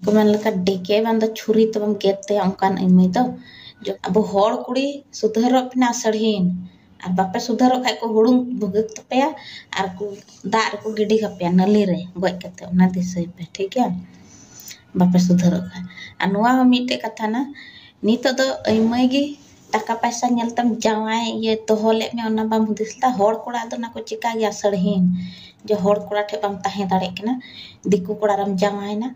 ᱠᱚ ᱢᱮᱱ ᱞᱮᱠᱟ ᱰᱮᱠᱮ ᱵᱟᱝ ᱫᱚ ᱪᱷᱩᱨᱤ ᱛᱮᱵᱚᱱ ᱜᱮᱫ ᱛᱟᱭᱟ ᱚᱱᱠᱟᱱ ᱢᱟᱹᱭ ᱫᱚ ᱟᱵᱚ ᱦᱚᱲ ᱠᱩᱲᱤ ᱥᱩᱫᱷᱟᱹᱨᱚᱜ ᱯᱮ ᱱᱟ ᱥᱟᱹᱲᱦᱤᱱ ᱟᱨ ᱵᱟᱯᱮ ᱥᱩᱫᱷᱟᱹᱨᱚᱜ ᱠᱷᱟᱱ ᱠᱚ ᱦᱩᱲᱩᱝ ᱵᱷᱩᱜᱟᱹᱜ ᱛᱟᱯᱮᱭᱟ ᱟᱨ ᱠᱚ ᱫᱟᱜ ᱨᱮᱠᱚ ᱜᱤᱰᱤ ᱠᱟᱯᱮᱭᱟ ᱱᱟᱹᱞᱤ ᱨᱮ ᱜᱚᱡ ᱠᱟᱛᱮ ᱚᱱᱟ ᱫᱤᱥᱟᱹᱭ ᱯᱮ ᱴᱷᱤᱠ ᱜᱮᱭᱟ ᱵᱟᱯᱮ ᱥᱩᱫᱷᱟᱹᱨᱚᱜ ᱠᱷᱟᱱ ᱟᱨ ᱱᱚᱣᱟ ᱦᱚᱸ ᱢᱤᱫᱴᱮᱡ ᱠᱟᱛᱷᱟ ᱠᱟᱱᱟ ᱱᱤᱛᱚᱜ ᱫᱚ ᱟᱹᱭᱢᱟᱹᱭ ᱜᱮ ᱴᱟᱠᱟ ᱯᱟᱭᱥᱟ ᱧᱮᱞ ᱛᱮᱢ ᱡᱟᱶᱟᱭ ᱤᱭᱟᱹ ᱫᱚᱦᱚ ᱞᱮᱫ ᱢᱮᱭᱟ ᱚᱱᱟ ᱵᱟᱢ ᱦᱩᱫᱤᱥ ᱞᱮᱫᱟ ᱦᱚᱲ ᱠᱚᱲᱟ ᱫᱚ ᱚᱱᱟ ᱠᱚ ᱪᱤᱠᱟᱹ ᱜᱮᱭᱟ ᱥᱟᱹᱲᱦᱤᱱ ᱡᱮ ᱦᱚᱲ ᱠᱚᱲᱟ ᱴᱷᱮᱱ ᱵᱟᱢ ᱛᱟᱦᱮᱸ ᱫᱟᱲᱮᱭᱟᱜ ᱠᱟᱱᱟ ᱫᱤᱠᱩ ᱠᱚᱲᱟ ᱨᱮᱢ ᱡᱟᱶᱟᱭᱮᱱᱟ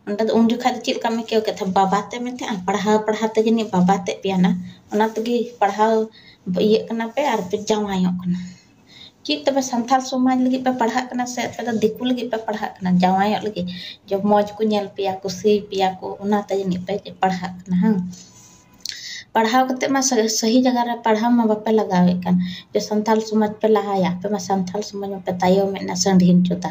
ᱚᱸᱰᱮ ᱫᱚ ᱩᱱ ᱡᱚᱠᱷᱟᱡ ᱫᱚ ᱪᱮᱫ ᱞᱮᱠᱟᱢ ᱟᱹᱭᱠᱟᱹᱣ ᱠᱮᱫ ᱛᱟᱦᱮᱸᱫ ᱵᱟᱵᱟ ᱛᱮ ᱢᱮᱛᱟᱜᱼᱟ ᱯᱟᱲᱦᱟᱣ ᱯᱟᱲᱦᱟᱣ ᱛᱮ ᱡᱟᱹᱱᱤᱡ ᱵᱟᱵᱟ ᱛᱮᱫ ᱯᱮᱭᱟᱱᱟ ᱚᱱᱟ ᱛᱮᱜᱮ ᱯᱟᱲᱦᱟᱣ ᱤᱭᱟᱹᱜ ᱠᱟᱱᱟ ᱯᱮ ᱟᱨ ᱯᱮ ᱡᱟᱶᱟᱭᱚᱜ ᱠᱟᱱᱟ ᱪᱮᱫ ᱛᱚᱵᱮ ᱥᱟᱱᱛᱟᱲ ᱥᱚᱢᱟᱡᱽ ᱞᱟᱹᱜᱤᱫ ᱯᱮ ᱯᱟᱲᱦᱟᱜ ᱠᱟᱱᱟ ᱥᱮ ᱟᱯᱮ ᱫᱚ ᱫᱤᱠᱩ ᱞᱟᱹᱜᱤᱫ ᱯᱮ ᱯᱟᱲᱦᱟᱜ ᱠᱟᱱᱟ ᱡᱟᱶᱟᱭᱚᱜ ᱞᱟᱹᱜᱤᱫ ᱡᱮ ᱢᱚᱡᱽ ᱠᱚ ᱧᱮᱞ ᱯᱮᱭᱟ ᱠᱩᱥᱤ ᱯᱮᱭᱟ ᱠᱚ ᱚᱱᱟᱛᱮ ᱡᱟᱹᱱᱤᱡ ᱯᱮ ᱯᱟᱲᱦᱟᱜ ᱠᱟᱱᱟ ᱦᱮᱸᱵᱟᱝ ᱯᱟᱲᱦᱟᱣ ᱠᱟᱛᱮ ᱢᱟ ᱥᱟᱹᱦᱤ ᱡᱟᱭᱜᱟ ᱨᱮ ᱯᱟᱲᱦᱟᱣ ᱢᱟ ᱵᱟᱯᱮ ᱞᱟᱜᱟᱣᱮᱫ ᱠᱟᱱ ᱡᱮ ᱥᱟᱱᱛᱟᱲ ᱥᱚᱢᱟᱡᱽ ᱯᱮ ᱞᱟᱦᱟᱭᱟ ᱟᱯᱮ ᱢᱟ ᱥᱟᱱᱛᱟᱲ ᱥᱚᱢᱟᱡᱽ ᱢᱟᱯᱮ ᱛᱟᱭᱚᱢᱮᱫ ᱱᱟᱥᱮ ᱰᱷᱤᱞ ᱪᱚᱫᱟ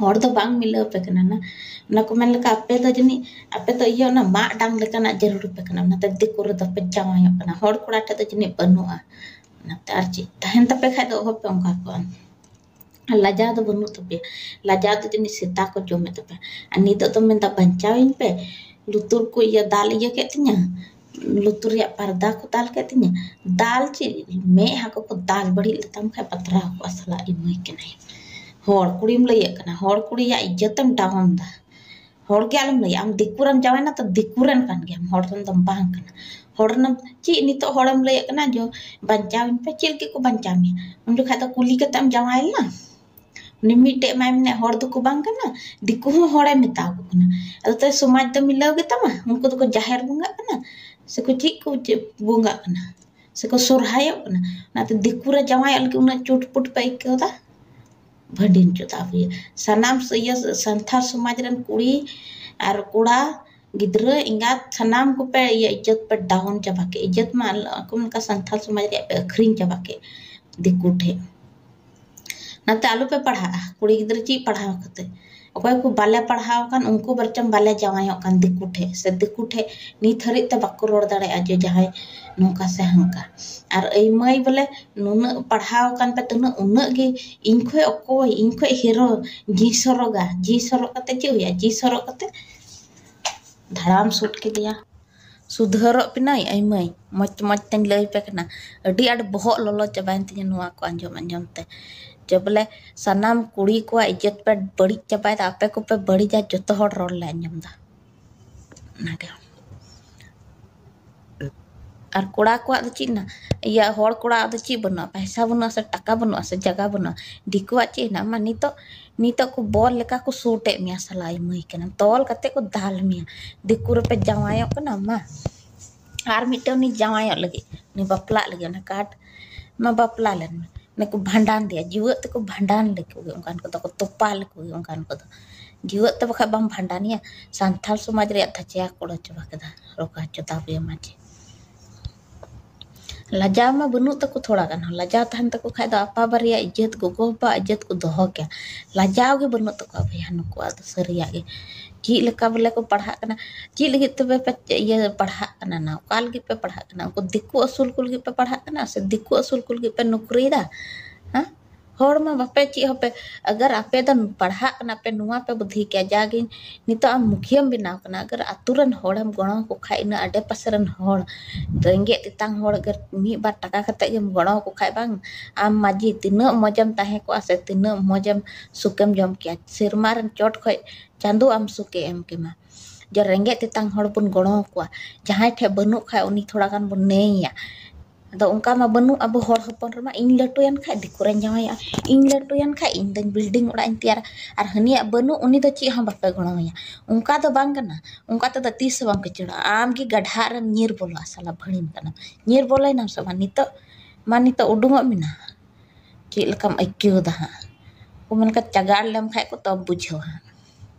ᱦᱚᱲ ᱫᱚ ᱵᱟᱝ ᱢᱤᱞᱟᱹᱣ ᱟᱯᱮ ᱠᱟᱱᱟ ᱱᱟ ᱚᱱᱟ ᱠᱚ ᱢᱮᱱ ᱞᱮᱠᱷᱟᱱ ᱟᱯᱮ ᱫᱚ ᱡᱟᱹᱱᱤᱡ ᱟᱯᱮ ᱫᱚ ᱤᱭᱟᱹ ᱚᱱᱟ ᱢᱟᱜ ᱰᱟᱝ ᱞᱮᱠᱟᱱᱟᱜ ᱡᱟᱹᱨᱩᱲ ᱟᱯᱮ ᱠᱟᱱᱟ ᱚᱱᱟᱛᱮ ᱫᱤᱠᱩ ᱨᱮᱫᱚ ᱯᱮ ᱡᱟᱶᱟᱭᱚᱜ ᱠᱟᱱᱟ ᱦᱚᱲ ᱠᱚᱲᱟ ᱴᱷᱮᱡ ᱫᱚ ᱡᱟᱹᱱᱤᱡ ᱵᱟᱹᱱᱩᱜᱼᱟ ᱚᱱᱟᱛᱮ ᱟᱨ ᱪᱮᱫ ᱛᱟᱦᱮᱱ ᱛᱟᱯᱮ ᱠᱷᱟᱡ ᱫᱚ ᱚᱦᱚ ᱯᱮ ᱚᱱᱠᱟ ᱠᱚᱜᱼᱟ ᱟᱨ ᱞᱟᱡᱟᱣ ᱫᱚ ᱵᱟᱹᱱᱩᱜ ᱛᱟᱯᱮᱭᱟ ᱞᱟᱡᱟᱣ ᱫᱚ ᱡᱟᱹᱱᱤᱡ ᱥᱮᱛᱟ ᱠᱚ ᱡᱚᱢᱮᱫ ᱛᱟᱯᱮᱭᱟ ᱟᱨ ᱱᱤᱛᱚᱜ ᱫᱚᱢ ᱢᱮᱱᱫᱟ ᱵᱟᱧᱪᱟᱣᱤᱧ ᱯᱮ ᱞᱩᱛᱩᱨ ᱠᱚ ᱤᱭᱟᱹ ᱫᱟᱞ ᱤᱭᱟᱹ ᱠᱮᱫ ᱛᱤᱧᱟᱹ ᱞᱩᱛᱩᱨ ᱨᱮᱭᱟᱜ ᱯᱟᱨᱫᱟ ᱠᱚ ᱫᱟᱞ ᱠᱮᱫ ᱛᱤᱧᱟᱹ ᱫᱟᱞ ᱪᱮᱫ ᱢᱮᱫᱦᱟ ᱠᱚᱠᱚ ᱫᱟᱞ ᱵᱟᱹᱲᱤᱡ ᱞᱮᱛᱟᱢ ᱠᱷᱟᱱ ᱯᱟᱛᱞᱟᱣ ᱠᱚᱜᱼᱟ ᱥᱟᱞᱟ ᱤᱢᱟᱹᱭ ᱠᱟᱱᱟᱭ ᱦᱚᱲ ᱠᱩᱲᱤᱢ ᱞᱟᱹᱭᱟᱹᱜ ᱠᱟᱱᱟ ᱦᱚᱲ ᱠᱩᱲᱤᱭᱟᱜ ᱤᱡᱽᱡᱚᱛᱮᱢ ᱰᱟᱣᱩᱱ ᱮᱫᱟ ᱦᱚᱲ ᱜᱮ ᱟᱞᱚᱢ ᱞᱟᱹᱭᱟ ᱟᱢ ᱫᱤᱠᱩ ᱨᱮᱢ ᱡᱟᱶᱟᱭᱱᱟ ᱛᱚ ᱫᱤᱠᱩ ᱨᱮᱱ ᱠᱟᱱ ᱜᱮᱭᱟᱢ ᱦᱚᱲ ᱨᱮᱱ ᱫᱚᱢ ᱵᱟᱝ ᱠᱟᱱᱟ ᱦᱚᱲ ᱨᱮᱱᱟᱜ ᱪᱮᱫ ᱱᱤᱛᱚᱜ ᱦᱚᱲᱮᱢ ᱞᱟᱹᱭᱟᱹᱜ ᱠᱟᱱᱟ ᱡᱮ ᱵᱟᱧᱪᱟᱣᱤᱧ ᱯᱮ ᱪᱮᱫ ᱞᱟᱹᱜᱤᱫ ᱠᱚ ᱵᱟᱧᱪᱟᱣ ᱢᱮᱭᱟ ᱩᱱ ᱡᱚᱠᱷᱟᱱ ᱫᱚ ᱠᱩᱞᱤ ᱠᱟᱛᱮᱢ ᱡᱟᱶᱟᱭ ᱞᱮᱱᱟ ᱩᱱᱤ ᱢᱤᱫᱴᱮᱡ ᱢᱟᱭ ᱢᱮᱱᱮᱫ ᱦᱚᱲ ᱫᱚᱠᱚ ᱵᱟᱝ ᱠᱟᱱᱟ ᱫᱤᱠᱩ ᱦᱚᱸ ᱦᱚᱲᱮ ᱢᱮᱛᱟ ᱠᱚ ᱠᱟᱱᱟ ᱟᱫᱚ ᱛᱟᱦᱚᱞᱮ ᱥᱚᱢᱟᱡᱽ ᱫᱚ ᱢᱤᱞᱟᱹᱣ ᱜᱮᱛᱟᱢᱟ ᱩᱱᱠᱩ ᱫᱚᱠᱚ ᱡᱟᱦᱮᱨ ᱵᱚᱸᱜᱟᱜ ᱠᱟᱱᱟ ᱥᱮᱠᱚ ᱪᱮᱫ ᱠᱚ ᱪᱮᱫ ᱵᱚᱸᱜᱟᱜ ᱠᱟᱱᱟ ᱥᱮᱠᱚ ᱥᱚᱨᱦᱟᱭᱚᱜ ᱠᱟᱱᱟ ᱚᱱᱟᱛᱮ ᱫᱤᱠᱩ ᱨᱮ ᱡᱟᱶᱟᱭᱚᱜ ᱞᱟᱹᱜᱤᱫ ᱩᱱᱟᱹᱜ ᱪᱩᱴᱯᱩᱴ ᱯᱮ ᱟᱹᱭᱠᱟᱹᱣᱫᱟ ᱵᱷᱟᱹᱰᱤᱱ ᱪᱚᱫᱟ ᱟᱹᱜᱩᱭᱟ ᱥᱟᱱᱟᱢ ᱤᱭᱟᱹ ᱥᱟᱱᱛᱟᱲ ᱥᱚᱢᱟᱡᱽ ᱨᱮᱱ ᱠᱩᱲᱤ ᱟᱨ ᱠᱚᱲᱟ ᱜᱤᱫᱽᱨᱟᱹ ᱮᱸᱜᱟᱛ ᱥᱟᱱᱟᱢ ᱠᱚᱯᱮ ᱤᱭᱟᱹ ᱤᱡᱽᱡᱚᱛ ᱯᱮ ᱰᱟᱣᱩᱱ ᱪᱟᱵᱟ ᱠᱮᱫ ᱤᱡᱽᱡᱚᱛ ᱢᱟ ᱟᱠᱚ ᱞᱮᱠᱟ ᱥᱟᱱᱛᱟᱲ ᱥᱚᱢᱟᱡᱽ ᱨᱮᱭᱟᱜ ᱯᱮ ᱟᱹᱠᱷᱨᱤᱧ ᱪᱟᱵᱟ ᱠᱮᱫ ᱫᱤᱠᱩ ᱴᱷᱮᱱ ᱱᱟᱛᱮ ᱟᱞᱚ ᱯᱮ ᱯᱟᱲᱦᱟᱜᱼᱟ ᱠᱩᱲᱤ ᱜᱤᱫᱽᱨᱟᱹ ᱪᱮᱫ ᱯᱟᱲᱦᱟᱣ ᱠᱟᱛᱮ ᱚᱠᱚᱭ ᱠᱚ ᱵᱟᱞᱮ ᱯᱟᱲᱦᱟᱣ ᱠᱟᱱ ᱩᱱᱠᱩ ᱵᱚᱨᱪᱚᱝ ᱵᱟᱞᱮ ᱡᱟᱶᱟᱭᱚᱜ ᱠᱟᱱ ᱫᱤᱠᱩ ᱴᱷᱮᱡ ᱥᱮ ᱫᱤᱠᱩ ᱴᱷᱮᱡ ᱱᱤᱛ ᱦᱟᱹᱨᱤᱡ ᱛᱮ ᱵᱟᱠᱚ ᱨᱚᱲ ᱫᱟᱲᱮᱭᱟᱜᱼᱟ ᱡᱮ ᱡᱟᱦᱟᱸᱭ ᱱᱚᱝᱠᱟ ᱥᱮ ᱦᱟᱝᱠᱟ ᱟᱨ ᱟᱹᱭ ᱢᱟᱹᱭ ᱵᱚᱞᱮ ᱱᱩᱱᱟᱹᱜ ᱯᱟᱲᱦᱟᱣ ᱠᱟᱱ ᱯᱮ ᱛᱩᱱᱟᱹᱜ ᱩᱱᱟᱹᱜ ᱜᱮ ᱤᱧ ᱠᱷᱚᱡ ᱚᱠᱚᱭ ᱤᱧ ᱠᱷᱚᱡ ᱦᱤᱨᱳ ᱡᱤ ᱥᱚᱨᱚᱜᱟ ᱡᱤ ᱥᱚᱨᱚᱜ ᱠᱟᱛᱮ ᱪᱮᱫ ᱦᱩᱭᱩᱜᱼᱟ ᱡᱤ ᱥᱚᱨᱚᱜ ᱠᱟᱛᱮ ᱫᱷᱟᱲᱟᱢ ᱥᱩᱴ ᱠᱮᱫᱮᱭᱟ ᱥᱩᱫᱷᱟᱹᱨᱚᱜ ᱯᱮᱱᱟᱹᱭ ᱟᱭ ᱢᱟᱹᱭ ᱢᱚᱡᱽ ᱢᱚᱡᱽ ᱛᱮᱧ ᱞᱟᱹᱭ ᱟᱯᱮ ᱠᱟᱱᱟ ᱟᱹᱰᱤ ᱟᱸᱴ ᱵᱚᱦᱚᱜ ᱞᱚᱞᱚ ᱪᱟᱵᱟᱭᱮᱱ ᱛᱤᱧᱟᱹ ᱱᱚᱣᱟ ᱠᱚ ᱟᱸᱡᱚᱢ ᱟᱸᱡᱚᱢ ᱛᱮ ᱡᱮ ᱵᱚᱞᱮ ᱥᱟᱱᱟᱢ ᱠᱩᱲᱤ ᱠᱚᱣᱟᱜ ᱤᱡᱽᱡᱚᱛ ᱯᱮ ᱵᱟᱹᱲᱤᱡ ᱪᱟᱵᱟᱭᱮᱫᱟ ᱟᱯᱮ ᱠᱚᱯᱮ ᱵᱟᱹᱲᱤᱡᱟ ᱡᱚᱛᱚ ᱦᱚᱲ ᱨᱚᱲ ᱞᱮ ᱟᱸᱡᱚᱢᱫᱟ ᱚᱱᱟᱜᱮ ᱟᱨ ᱠᱚᱲᱟ ᱠᱚᱣᱟᱜ ᱫᱚ ᱪᱮᱫ ᱦᱮᱱᱟᱜ ᱤᱭᱟᱹ ᱦᱚᱲ ᱠᱚᱲᱟᱣᱟᱜ ᱫᱚ ᱪᱮᱫ ᱵᱟᱹᱱᱩᱜᱼᱟ ᱯᱚᱭᱥᱟ ᱵᱟᱹᱱᱩᱜᱼᱟ ᱥᱮ ᱴᱟᱠᱟ ᱵᱟᱹᱱᱩᱜᱼᱟ ᱥᱮ ᱡᱟᱭᱜᱟ ᱵᱟᱹᱱᱩᱜᱼᱟ ᱫᱤᱠᱩᱣᱟᱜ ᱪᱮᱫ ᱦᱮᱱᱟᱜᱼᱟ ᱢᱟ ᱱᱤᱛᱚᱜ ᱱᱤᱛᱚᱜ ᱠᱚ ᱵᱚᱞ ᱞᱮᱠᱟ ᱠᱚ ᱥᱩᱴ ᱮᱫ ᱢᱮᱭᱟ ᱥᱟᱞᱟ ᱟᱭᱢᱟᱹᱭ ᱠᱟᱱᱟᱢ ᱛᱚᱞ ᱠᱟᱛᱮᱫ ᱠᱚ ᱫᱟᱞ ᱢᱮᱭᱟ ᱫᱤᱠᱩ ᱨᱮᱯᱮ ᱡᱟᱶᱟᱭᱚᱜ ᱠᱟᱱᱟ ᱢᱟ ᱟᱨ ᱢᱤᱫᱴᱮᱱ ᱩᱱᱤ ᱡᱟᱶᱟᱭᱚᱜ ᱞᱟᱹᱜᱤᱫ ᱩᱱᱤ ᱵᱟᱯᱞᱟᱜ ᱞᱟᱹᱜᱤᱫ ᱚᱱᱟ ᱠᱟᱴ ᱢᱟ ᱵᱟᱯᱞᱟ ᱞᱮᱱ ᱢᱮ ᱚᱱᱮ ᱠᱚ ᱵᱷᱟᱸᱰᱟᱱ ᱫᱮᱭᱟ ᱡᱩᱣᱟᱹᱜ ᱛᱮᱠᱚ ᱵᱷᱟᱸᱰᱟᱱ ᱞᱮᱠᱚ ᱜᱮ ᱚᱱᱠᱟᱱ ᱠᱚᱫᱚ ᱠᱚ ᱛᱚᱯᱟ ᱞᱮᱠᱚ ᱜᱮ ᱚᱱᱠᱟᱱ ᱠᱚᱫᱚ ᱡᱩᱣᱟᱹᱜ ᱛᱮ ᱵᱟᱠᱷᱟᱡ ᱵᱟᱢ ᱵᱷᱟᱸᱰᱟᱱᱮᱭᱟ ᱥᱟᱱᱛᱟᱲ ᱥᱚᱢᱟᱡᱽ ᱨᱮᱭᱟᱜ ᱫᱷᱟᱪᱮᱭᱟ ᱠᱚ ᱩᱲᱟᱹᱣ ᱪᱟᱵᱟ ᱠᱮᱫᱟ ᱨᱚᱜᱟ ᱪᱚᱫᱟ ᱵᱮᱢᱟᱡᱽ ᱞᱟᱡᱟᱣ ᱢᱟ ᱵᱟᱹᱱᱩᱜ ᱛᱟᱠᱚ ᱛᱷᱚᱲᱟ ᱜᱟᱱ ᱦᱚᱸ ᱞᱟᱡᱟᱣ ᱛᱟᱦᱮᱱ ᱛᱟᱠᱚ ᱠᱷᱟᱱ ᱫᱚ ᱟᱯᱟ ᱵᱟᱨᱮᱭᱟᱜ ᱤᱡᱽᱡᱚᱛ ᱜᱚᱜᱚ ᱵᱟᱵᱟᱣᱟᱜ ᱤᱡᱽᱡᱚᱛ ᱠᱚ ᱫᱚᱦᱚ ᱠᱮᱭᱟ ᱞᱟᱡᱟᱣ ᱜᱮ ᱵᱟᱹᱱᱩᱜ ᱛᱟᱠᱚᱣᱟ ᱵᱚᱭᱦᱟ ᱱᱩᱠᱩᱣᱟᱜ ᱫᱚ ᱥᱟᱹᱨᱤᱭᱟᱜ ᱜᱮ ᱪᱮᱫ ᱞᱮᱠᱟ ᱵᱚᱞᱮ ᱠᱚ ᱯᱟᱲᱦᱟᱜ ᱠᱟᱱᱟ ᱪᱮᱫ ᱞᱟᱹᱜᱤᱫ ᱛᱚᱵᱮ ᱯᱮ ᱤᱭᱟᱹ ᱯᱟᱲᱦᱟᱜ ᱠᱟᱱᱟ ᱱᱟᱝ ᱚᱠᱟ ᱞᱟᱹᱜᱤᱫ ᱯᱮ ᱯᱟᱲᱦᱟᱜ ᱠᱟᱱᱟ ᱩᱱᱠᱩ ᱫᱤᱠᱩ ᱟᱹᱥᱩᱞ ᱠᱚ ᱞᱟᱹᱜᱤᱫ ᱯᱮ ᱯᱟᱲᱦᱟᱜ ᱠᱟᱱᱟ ᱥᱮ ᱫᱤᱠᱩ ᱟᱹᱥᱩᱞ ᱠᱚ ᱞᱟᱹᱜᱤᱫ ᱯᱮ ᱱᱩᱠᱨᱤᱭᱮᱫᱟ ᱦᱮᱸ ᱦᱚᱲ ᱢᱟ ᱵᱟᱯᱮ ᱪᱮᱫ ᱦᱚᱸᱯᱮ ᱟᱜᱟᱨ ᱟᱯᱮ ᱫᱚ ᱯᱟᱲᱦᱟᱜ ᱠᱟᱱᱟ ᱯᱮ ᱱᱚᱣᱟ ᱯᱮ ᱵᱩᱫᱽᱫᱷᱤ ᱠᱮᱭᱟ ᱡᱟᱜᱮ ᱱᱤᱛᱚᱜ ᱟᱢ ᱢᱩᱠᱷᱤᱭᱟᱹᱟᱢ ᱵᱮᱱᱟᱣ ᱠᱟᱱᱟ ᱟᱜᱟᱨ ᱟᱛᱳ ᱨᱮᱱ ᱦᱚᱲᱮᱢ ᱜᱚᱲᱚ ᱟᱠᱚ ᱠᱷᱟᱱ ᱤᱱᱟᱹ ᱟᱰᱮ ᱯᱟᱥᱮ ᱨᱮᱱ ᱦᱚᱲ ᱨᱮᱸᱜᱮᱡ ᱛᱮᱛᱟᱝ ᱦᱚᱲ ᱟᱜᱟᱨ ᱢᱤᱫ ᱵᱟᱨ ᱴᱟᱠᱟ ᱠᱟᱛᱮᱫ ᱜᱮᱢ ᱜᱚᱲᱚ ᱟᱠᱚ ᱠᱷᱟᱱ ᱵᱟᱝ ᱟᱢ ᱢᱟᱺᱡᱷᱤ ᱛᱤᱱᱟᱹᱜ ᱢᱚᱡᱽ ᱮᱢ ᱛᱟᱦᱮᱸ ᱠᱚᱜᱼᱟ ᱥᱮ ᱛᱤᱱᱟᱹᱜ ᱢᱚᱡᱽ ᱮᱢ ᱥᱩᱠᱮᱢ ᱡᱚᱢ ᱠᱮᱭᱟ ᱥᱮᱨᱢᱟ ᱨᱮᱱ ᱪᱚᱴ ᱠᱷᱚᱱ ᱪᱟᱸᱫᱳ ᱟᱢ ᱥᱩᱠᱮ ᱮᱢ ᱠᱮᱢᱟ ᱡᱮ ᱨᱮᱸᱜᱮᱡ ᱛᱮᱛᱟᱝ ᱦᱚᱲ ᱵᱚᱱ ᱜᱚᱲᱚ ᱟᱠᱚᱣᱟ ᱡᱟᱦᱟᱸᱭ ᱴᱷᱮᱱ ᱵᱟᱹᱱᱩᱜ ᱠᱷᱟᱱ ᱩᱱᱤ ᱛᱷᱚᱲᱟ ᱜᱟᱱ ᱵᱚᱱ ᱱᱮᱭᱮᱭᱟ ᱟᱫᱚ ᱚᱱᱠᱟ ᱢᱟ ᱵᱟᱹᱱᱩᱜ ᱟᱵᱚ ᱦᱚᱲ ᱦᱚᱯᱚᱱ ᱨᱮᱢᱟ ᱤᱧ ᱞᱟᱹᱴᱩᱭᱮᱱ ᱠᱷᱟᱡ ᱫᱤᱠᱩ ᱨᱮᱧ ᱡᱟᱶᱟᱭᱟ ᱤᱧ ᱞᱟᱹᱴᱩᱭᱮᱱ ᱠᱷᱟᱡ ᱤᱧ ᱫᱚ ᱵᱤᱞᱰᱤᱝ ᱚᱲᱟᱜ ᱤᱧ ᱛᱮᱭᱟᱨᱟ ᱟᱨ ᱦᱟᱹᱱᱤᱭᱟᱜ ᱵᱟᱹᱱᱩᱜ ᱩᱱᱤ ᱫᱚ ᱪᱮᱫ ᱦᱚᱸ ᱵᱟᱯᱮ ᱜᱚᱲᱚ ᱟᱭᱟ ᱚᱱᱠᱟ ᱫᱚ ᱵᱟᱝ ᱠᱟᱱᱟ ᱚᱱᱠᱟ ᱛᱮᱫᱚ ᱛᱤᱥ ᱦᱚᱸ ᱵᱟᱢ ᱠᱤᱥᱟᱹᱬᱚᱜᱼᱟ ᱟᱢ ᱜᱮ ᱜᱟᱰᱷᱟᱜ ᱨᱮᱢ ᱧᱤᱨ ᱵᱚᱞᱚᱜᱼᱟ ᱥᱟᱞᱟ ᱵᱷᱟᱹᱲᱤᱢ ᱠᱟᱱᱟᱢ ᱧᱤᱨ ᱵᱚᱞᱚᱭᱮᱱᱟᱢ ᱥᱮ ᱵᱟᱝ ᱱᱤᱛᱚᱜ ᱢᱟ ᱱᱤᱛᱚᱜ ᱩᱰᱩᱠᱚᱜ ᱢᱮ ᱱᱟ ᱪᱮᱫ ᱞᱮᱠᱟᱢ ᱟᱹᱭᱠᱟᱹᱣᱫᱟ ᱦᱟᱸᱜ ᱠᱚ ᱢᱮᱱ ᱠᱷᱟᱡ ᱪᱟᱜᱟᱲ ᱞᱮᱢ ᱠᱷᱟᱡ ᱠᱚ ᱛᱚᱵᱮᱢ ᱵᱩᱡᱷᱟᱹᱣᱟ ᱦᱟᱸᱜ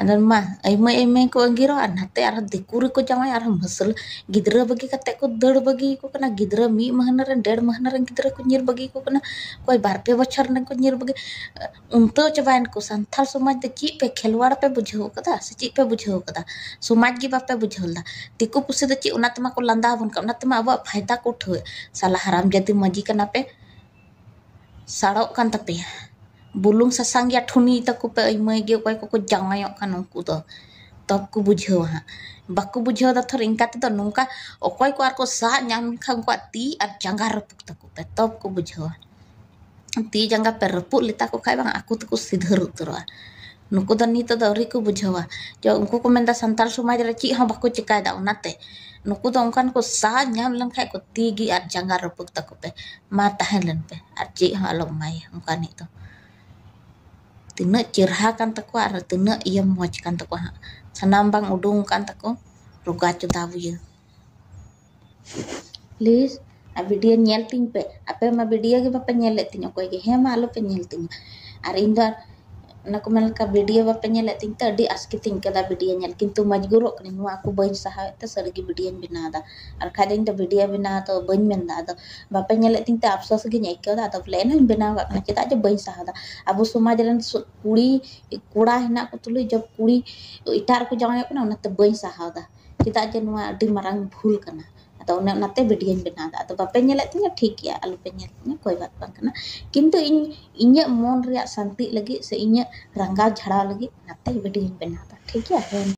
ᱟᱫᱚ ᱢᱟ ᱟᱭᱢᱟᱹ ᱟᱭᱢᱟᱹ ᱠᱚ ᱟᱺᱜᱤᱨᱚᱜᱼᱟ ᱟᱨ ᱱᱟᱛᱮ ᱟᱨᱦᱚᱸ ᱫᱤᱠᱩ ᱨᱮᱠᱚ ᱡᱟᱶᱟᱭᱚᱜᱼᱟ ᱟᱨᱦᱚᱸ ᱢᱩᱥᱞᱟᱹ ᱜᱤᱫᱽᱨᱟᱹ ᱵᱟᱹᱜᱤ ᱠᱟᱛᱮᱫ ᱠᱚ ᱫᱟᱹᱲ ᱵᱟᱹᱜᱤᱭᱟᱠᱚ ᱠᱟᱱᱟ ᱜᱤᱫᱽᱨᱟᱹ ᱢᱤᱫ ᱢᱟᱹᱦᱱᱟᱹ ᱨᱮᱱ ᱰᱮᱲ ᱢᱟᱹᱦᱱᱟᱹ ᱨᱮᱱ ᱜᱤᱫᱽᱨᱟᱹ ᱠᱚ ᱧᱤᱨ ᱵᱟᱹᱜᱤᱭᱟᱠᱚ ᱠᱟᱱᱟ ᱚᱠᱚᱭ ᱵᱟᱨ ᱯᱮ ᱵᱚᱪᱷᱚᱨ ᱨᱮᱱ ᱠᱚ ᱧᱤᱨ ᱵᱟᱹᱜᱤ ᱩᱱᱛᱟᱹᱣ ᱪᱟᱵᱟᱭᱮᱱ ᱠᱚ ᱥᱟᱱᱛᱟᱲ ᱥᱚᱢᱟᱡᱽ ᱫᱚ ᱪᱮᱫ ᱯᱮ ᱠᱷᱮᱞᱣᱟᱲ ᱯᱮ ᱵᱩᱡᱷᱟᱹᱣ ᱠᱟᱫᱟ ᱥᱮ ᱪᱮᱫ ᱯᱮ ᱵᱩᱡᱷᱟᱹᱣ ᱠᱟᱫᱟ ᱥᱚᱢᱟᱡᱽ ᱜᱮ ᱵᱟᱯᱮ ᱵᱩᱡᱷᱟᱹᱣ ᱞᱮᱫᱟ ᱫᱤᱠᱩ ᱯᱩᱥᱤ ᱫᱚ ᱪᱮᱫ ᱚᱱᱟ ᱛᱮᱢᱟ ᱠᱚ ᱞᱟᱸᱫᱟ ᱟᱵᱚᱱ ᱠᱟᱱᱟ ᱚᱱᱟ ᱛᱮᱢᱟ ᱟᱵᱚᱣᱟᱜ ᱯᱷᱟᱭᱫᱟ ᱠᱚ ᱩᱴᱷᱟᱹᱣᱮᱫ ᱥᱟᱞᱟ ᱦᱟᱨᱟᱢ ᱡᱟᱹᱛᱤ ᱢᱟᱹᱡᱷᱤ ᱠᱟᱱᱟ ᱯᱮ ᱥᱟᱲᱚᱜ ᱠᱟᱱ ᱛᱟᱯᱮᱭᱟ ᱵᱩᱞᱩᱝ ᱥᱟᱥᱟᱝ ᱜᱮᱭᱟ ᱴᱷᱩᱱᱤ ᱛᱟᱠᱚ ᱯᱮ ᱟᱹᱭᱢᱟᱹᱭ ᱜᱮ ᱚᱠᱚᱭ ᱠᱚᱠᱚ ᱡᱟᱶᱟᱭᱚᱜ ᱠᱟᱱ ᱩᱱᱠᱩ ᱫᱚ ᱛᱚᱵᱽ ᱠᱚ ᱵᱩᱡᱷᱟᱹᱣᱟ ᱦᱟᱸᱜ ᱵᱟᱠᱚ ᱵᱩᱡᱷᱟᱹᱣ ᱫᱟ ᱛᱷᱚᱨ ᱤᱱᱠᱟ ᱛᱮᱫᱚ ᱱᱚᱝᱠᱟ ᱚᱠᱚᱭ ᱠᱚ ᱟᱨᱠᱚ ᱥᱟᱵ ᱧᱟᱢ ᱞᱮᱠᱷᱟᱱ ᱩᱱᱠᱩᱣᱟᱜ ᱛᱤ ᱟᱨ ᱡᱟᱸᱜᱟ ᱨᱟᱹᱯᱩᱫ ᱛᱟᱠᱚ ᱯᱮ ᱛᱚᱵᱽ ᱠᱚ ᱵᱩᱡᱷᱟᱹᱣᱟ ᱛᱤ ᱡᱟᱸᱜᱟ ᱯᱮ ᱨᱟᱹᱯᱩᱫ ᱞᱮᱛᱟ ᱠᱚ ᱠᱷᱟᱱ ᱵᱟᱝ ᱟᱠᱚ ᱛᱮᱠᱚ ᱥᱤᱫᱷᱟᱹᱨ ᱩᱛᱟᱹᱨᱚᱜᱼᱟ ᱱᱩᱠᱩ ᱫᱚ ᱱᱤᱛ ᱫᱚ ᱟᱹᱣᱨᱤ ᱠᱚ ᱵᱩᱡᱷᱟᱹᱣᱟ ᱡᱮ ᱩᱱᱠᱩ ᱠᱚ ᱢᱮᱱᱫᱟ ᱥᱟᱱᱛᱟᱲ ᱥᱚᱢᱟᱡᱽ ᱨᱮ ᱪᱮᱫ ᱦᱚᱸ ᱵᱟᱠᱚ ᱪᱤᱠᱟᱹᱭᱮᱫᱟ ᱚᱱᱟᱛᱮ ᱱᱩᱠᱩ ᱫᱚ ᱚᱱᱠᱟᱱ ᱠᱚ ᱥᱟᱦ ᱧᱟᱢ ᱞᱮᱱᱠᱷᱟᱱ ᱠᱚ ᱛᱤ ᱜᱮ ᱟᱨ ᱡᱟᱸᱜᱟ ᱨᱟᱹᱯᱩᱫ ᱛᱟᱠᱚ ᱯᱮ ᱢᱟ ᱛᱟᱦᱮᱸ ᱞᱮᱱ ᱯᱮ ᱟᱨ ᱪᱮᱫ ᱦᱚᱸ ᱟᱞᱚᱢ ᱮᱢᱟᱭᱟ ᱚᱱᱠᱟᱱᱤᱡ ᱫᱚ ᱛᱤᱱᱟᱹᱜ ᱪᱮᱨᱦᱟ ᱠᱟᱱ ᱛᱟᱠᱚᱣᱟ ᱟᱨ ᱛᱤᱱᱟᱹᱜ ᱤᱭᱟᱹ ᱢᱚᱡᱽ ᱠᱟᱱ ᱛᱟᱠᱚᱣᱟ ᱦᱟᱸᱜ ᱥᱟᱱᱟᱢ ᱵᱟᱝ ᱩᱰᱩᱝ ᱟᱠᱟᱱ ᱛᱟᱠᱚ ᱨᱳᱜᱟ ᱪᱳᱫᱟ ᱵᱩᱭᱟᱹ ᱯᱞᱤᱡᱽ ᱟᱨ ᱵᱷᱤᱰᱤᱭᱳ ᱧᱮᱞ ᱛᱤᱧ ᱯᱮ ᱟᱯᱮ ᱢᱟ ᱵᱷᱤᱰᱤᱭᱳ ᱜᱮ ᱵᱟᱯᱮ ᱧᱮᱞᱮᱫ ᱛᱤᱧᱟᱹ ᱚᱠᱚᱭ ᱜᱮ ᱦᱮᱸ ᱢᱟ ᱟᱞᱚ ᱯᱮ ᱧᱮᱞ ᱛᱤᱧᱟᱹ ᱟᱨ ᱤᱧ ᱫᱚ ᱚᱱᱟ ᱠᱚ ᱢᱮᱱ ᱞᱮᱠᱟ ᱵᱷᱤᱰᱤᱭᱳ ᱵᱟᱯᱮ ᱧᱮᱞᱮᱫ ᱛᱤᱧ ᱛᱮ ᱟᱹᱰᱤ ᱟᱥᱠᱮᱛᱤᱧ ᱟᱹᱭᱠᱟᱹᱣᱫᱟ ᱵᱷᱤᱰᱤᱭᱳ ᱧᱮᱞ ᱠᱤᱱᱛᱩ ᱢᱚᱡᱽᱵᱩᱨᱚᱜ ᱠᱟᱹᱱᱟᱹᱧ ᱱᱚᱣᱟ ᱠᱚ ᱵᱟᱹᱧ ᱥᱟᱦᱟᱣᱮᱫ ᱛᱮ ᱥᱟᱹᱨᱤ ᱜᱮ ᱵᱷᱤᱰᱤᱭᱳᱧ ᱵᱮᱱᱟᱣᱫᱟ ᱟᱨ ᱵᱟᱠᱷᱟᱡ ᱫᱚ ᱤᱧ ᱫᱚ ᱵᱷᱤᱰᱤᱭᱳ ᱵᱮᱱᱟᱣ ᱫᱚ ᱵᱟᱹᱧ ᱢᱮᱱᱫᱟ ᱟᱫᱚ ᱵᱟᱯᱮ ᱧᱮᱞᱮᱫ ᱛᱤᱧ ᱛᱮ ᱟᱯᱥᱳᱥ ᱜᱤᱧ ᱟᱹᱭᱠᱟᱹᱣᱫᱟ ᱟᱫᱚ ᱵᱚᱞᱮ ᱮᱱ ᱦᱚᱸᱧ ᱵᱮᱱᱟᱣ ᱠᱟᱜ ᱠᱟᱱᱟ ᱪᱮᱫᱟᱜ ᱡᱮ ᱵᱟᱹᱧ ᱥᱟᱦᱟᱣᱫᱟ ᱟᱵᱚ ᱥᱚᱢᱟᱡᱽ ᱨᱮᱱ ᱠᱩᱲᱤ ᱠᱚᱲᱟ ᱦᱮᱱᱟᱜ ᱠᱚ ᱛᱩᱞᱩᱡ ᱡᱚᱵᱽ ᱠᱩᱲᱤ ᱮᱴᱟᱜ ᱨᱮᱠᱚ ᱡᱟᱶᱟᱭᱚᱜ ᱠᱟᱱᱟ ᱚᱱᱟᱛᱮ ᱵᱟᱹᱧ ᱥᱟᱦᱟᱣᱫᱟ ᱪᱮᱫᱟᱜ ᱡᱮ ᱱᱚᱣᱟ ᱟᱹᱰᱤ ᱢᱟᱨᱟᱝ ᱵᱷᱩᱞ ᱠᱟᱱᱟ ᱟᱫᱚ ᱚᱱᱮ ᱚᱱᱟᱛᱮ ᱵᱷᱤᱰᱭᱳᱧ ᱵᱮᱱᱟᱣᱫᱟ ᱟᱫᱚ ᱵᱟᱯᱮ ᱧᱮᱞᱮᱫ ᱛᱤᱧᱟᱹ ᱴᱷᱤᱠ ᱜᱮᱭᱟ ᱟᱞᱚᱯᱮ ᱧᱮᱞ ᱛᱤᱧᱟᱹ ᱠᱳᱭ ᱵᱟᱛ ᱵᱟᱝ ᱠᱟᱱᱟ ᱠᱤᱱᱛᱩ ᱤᱧ ᱤᱧᱟᱹᱜ ᱢᱚᱱ ᱨᱮᱭᱟᱜ ᱥᱟᱱᱛᱤᱜ ᱞᱟᱹᱜᱤᱫ ᱥᱮ ᱤᱧᱟᱹᱜ ᱨᱟᱸᱜᱟᱣ ᱡᱷᱟᱲᱟᱣ ᱞᱟᱹᱜᱤᱫ ᱚᱱᱟᱛᱮ ᱵᱷᱤᱰᱭᱳᱧ ᱵᱮᱱᱟᱣᱫᱟ ᱴᱷᱤᱠ ᱜᱮᱭᱟ